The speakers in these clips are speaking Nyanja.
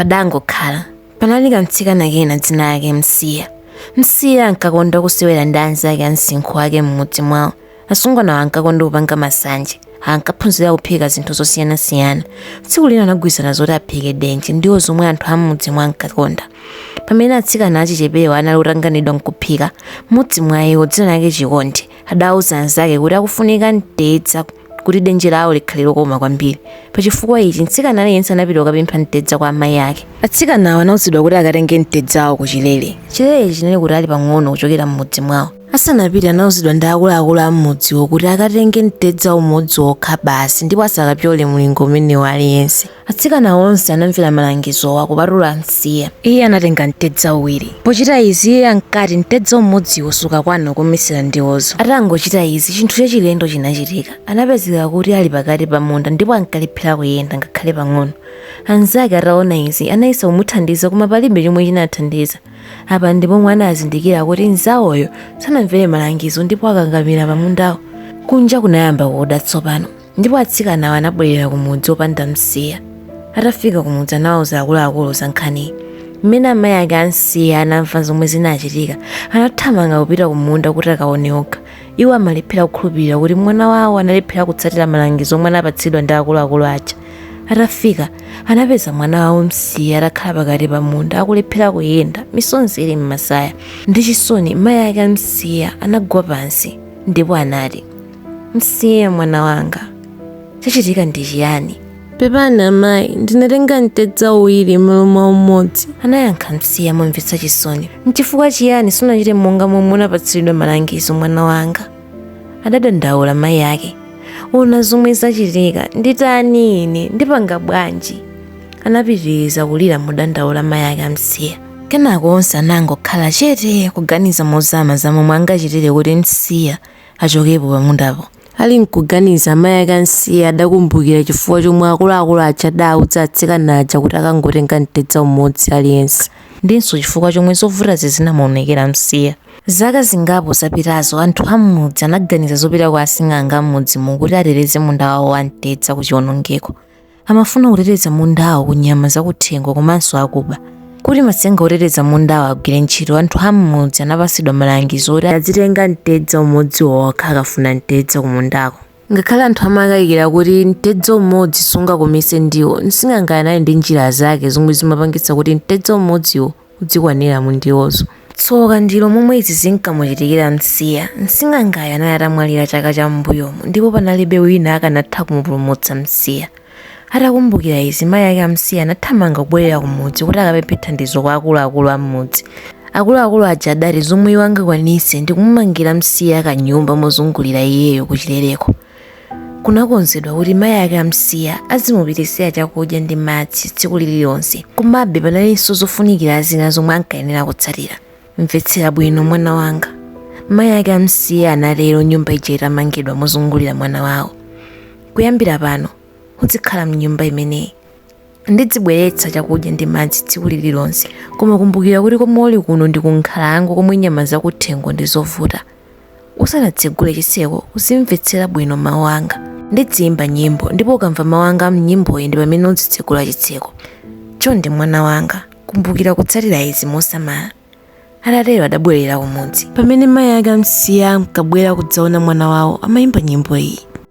padangokhala panali kamtsikana kena dzina lake msiya msiya ankakonda kusewera ndi anzake a msinkhu wake m'mudzi mwawo asungwanawo ankakonda kupanga masanje ankaphunzira kuphika zinthu zosiyanasiyana tsiku lina anagwirizana zoti aphike denje ndiwo zomwe anthu a m'mudzimo ankakonda pamene atsikana achichepewa anali otanganidwa nkuphika mmodzi mwa iwo dzina lake chikondi adauza anzake kuti akufunika mtedza kuti denje lawo likhale lokoma kwambiri pa chifukwa ichi mtsikana aliyense anapita kukapempha mtedza kwa amayi ake atsikanawo anauzidwa kuti akatenge mtedzawo ku chilele chilele chinali kutali pang'ono kuchokera m'mudzi mwawo asanapite anauzidwa ndi akuluakulu a m'mudziwo kuti akatenge mtedza umodzi wokha basi ndipo asakapyole mlingo umenewo aliyense Atsikana onse anamvera malangizowa kupatula Msiya. Iye anatenga mtedza uwiri. Pochita izi iye ankati mtedza umodziwo sukakwana kukometsera ndiwozo. Atangochita izi chinthu chachilendo chinachitika. Anapezeka kuti ali pakati pa munda ndipo ankalephera kuyenda ngakhale pang'ono. Anzake ataona izi anayesa kumuthandiza koma palibe chomwe chinathandiza. Apa ndi pomwe anazindikira kuti mnzawoyo sanamvere malangizo ndipo wakakamira pamundawo. Kunja kunayamba kuda tsopano. ndipo atsikanawo anabwerera kumudzi opanda msiya atafika kumudzi anawuza akuluakulu za nkhaniyi mmene amayi ake a msiya anamva zomwe zinachitika anathamanga kupita kumunda kuti akaone okha iwo amalephera kukhulupirira kuti mwana wawo analephera kutsatira malangizo omwe anapatsidwa ndi akuluakulu aja atafika anapeza mwana wawo msiya atakhala pakati pa munda akulephera kuyenda misozi ili m'masaya ndi chisoni mayi ake a msiya anagwa pansi ndipo anati Msiya mwana wanga, chachitika ndi chiyani? Pepani amayi, ndinatenga mtedza uwiri m'malo mwa umodzi. Anayankha Msiya momvetsa chisoni. N'chifukwa chiyani sunachite monga momwe unapatsidwa malangizo mwana wanga? Adadandaula mayi ake. Ona zomwe zachitika, nditani ine, ndipanga bwanji? Anapitiriza kulira modandaula mayi ake a Msiya. Kenako onse anangokhala chete kuganiza mozama za momwe angachitire kuti Msiya achokepo pamundapo. Ali nkuganiza, amayi ake a Msiya adakumbukira chifukwa chomwe akuluakulu aja adauza atsikana aja kuti akangotenga mtedza umodzi aliyense. Ndinso chifukwa chomwe zovutazi zinamuonekera Msiya. Zaka zingapo zapitazo, anthu a m'mudzi anaganiza zopita kwa asing'anga a m'mudzimo kuti ateteze munda wawo wa mtedza ku chiwonongeko. Amafuna kuteteza mundawo ku nyama zakuthengo komanso akuba. Kuti matsenga oteteza mundawo agwire ntchito, anthu a m'mudzi anapatsidwa malangizo oti azitenga mtedza umodzi wokha akafuna mtedza kumundako. Ngakhale anthu amakayikira kuti mtedza umodzi sungakometse ndiwo, msing'angayo anali ndi njira zake zomwe zimapangitsa kuti mtedza umodziwo udzikwanira mu ndiwozo. Tsoka ndilo momwe izi zinkamuchitikira Msiya. Msing'angayo anali atamwalira chaka cha m'mbuyomo ndipo panalibe wina akanatha kumupulumutsa Msiya. Atakumbukira izi, mayi ake a Msiya anathamanga kubwerera kumudzi kuti akapemphe thandizo kwa akuluakulu a m'mudzi. Akuluakulu aja adati zomwe iwo angakwanitse ndi kumumangira Msiya kanyumba mozungulira iyeyo kuchileleko. kunakonzedwa kuti mayi ake amsiya azimupititsira chakudya ndi madzi tsiku lililonse komabe panalinso zofunikira zina zomwe ankayenera kutsatira mvetsera bwino mwana wanga mayi ake amsiya anatero nyumba ija itamangidwa mozungulira mwana wawo kuyambira pano udzikhala mnyumba imeneyi ndidzibweretsa chakudya ndi madzi tsiku lililonse koma kumbukira kuti komwe uli kuno ndi kunkhalango komwe nyama zakuthengo ndi zovuta usanatsegule chitseko uzimvetsera bwino mawu anga ndidziyimba nyimbo ndipo ukamva mawu anga mnyimboyi ndi pamene udzitsegula chitseko chonde mwana wanga kumbukira kutsatira izi mosamala atatero adabwerera kumudzi pamene mayi ake amsiya ankabwera kudzaona mwana wawo amayimba nyimbo iyi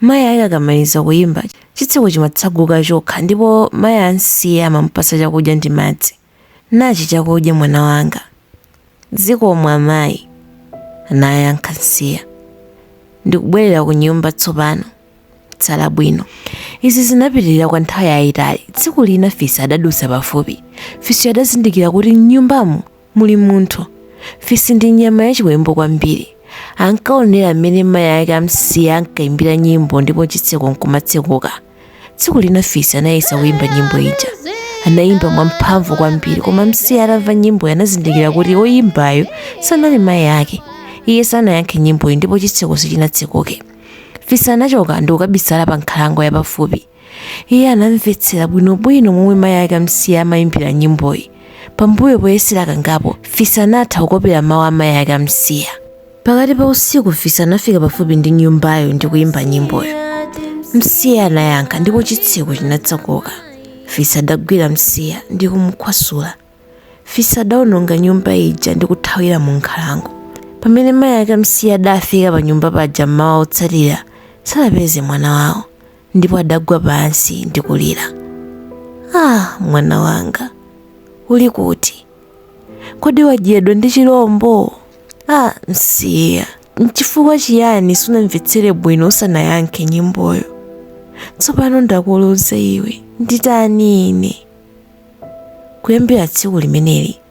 Mayi ake akamaliza kuyimba, chitseko chimatseguka chokha ndipo mayi a Msiya amamupatsa chakudya ndi madzi. Nachi chakudya mwana wanga. Zikomo amayi, anayankha Msiya. Ndikubwerera kunyumba tsopano. Tsala bwino. Izi zinapitirira kwa nthawi yayitali. Tsiku lina fisi adadutsa pafupi. Fisiyo adazindikira kuti m'nyumbamo Muli munthu. Fisi ndi nyama yachiwembu kwambiri. Ankaonera mmene mayi ake a Msiya ankaimbira nyimbo ndipo chitseko n'kumatsekuka. Tsiku lina Fisi anayesa kuimba nyimbo ija. Anaimba mwamphamvu kwambiri koma Msiya atamva nyimboyo anazindikira kuti woimbayo sanali mayi ake. Iye sanayankhe nyimboyi ndipo chitseko sichinatsekuke. Fisi anachoka ndi kukabisala pankhalango yapafupi. iye anamvetsera bwinobwino momwe mayi ake amsiya amayimbira nyimboyi pambuyo poyesera kangapo fisi anatha kukopera mawu a mayi ake amsiya pakati pa usiku fisi anafika pafupi ndi nyumbayo ndi kuyimba nyimboyo msiya anayankha ndipo chitseko chinatsekuka fisi adagwira msiya ndi kumukhwasula fisi adawononga nyumba ija ndi kuthawira mu nkhalango pamene mayi ake amsiya adafika pa nyumba paja mmawa wotsatira sanapeze mwana wawo ndipo adagwa pansi ndi kulira ah mwana wanga uli kuti kodi wadyedwa ndi chilombo ah msiya nchifukwa chiyani sunamvetsere bwino usanayankhe nyimboyo tsopano ndakuluza iwe nditani ine kuyambira tsiku limeneli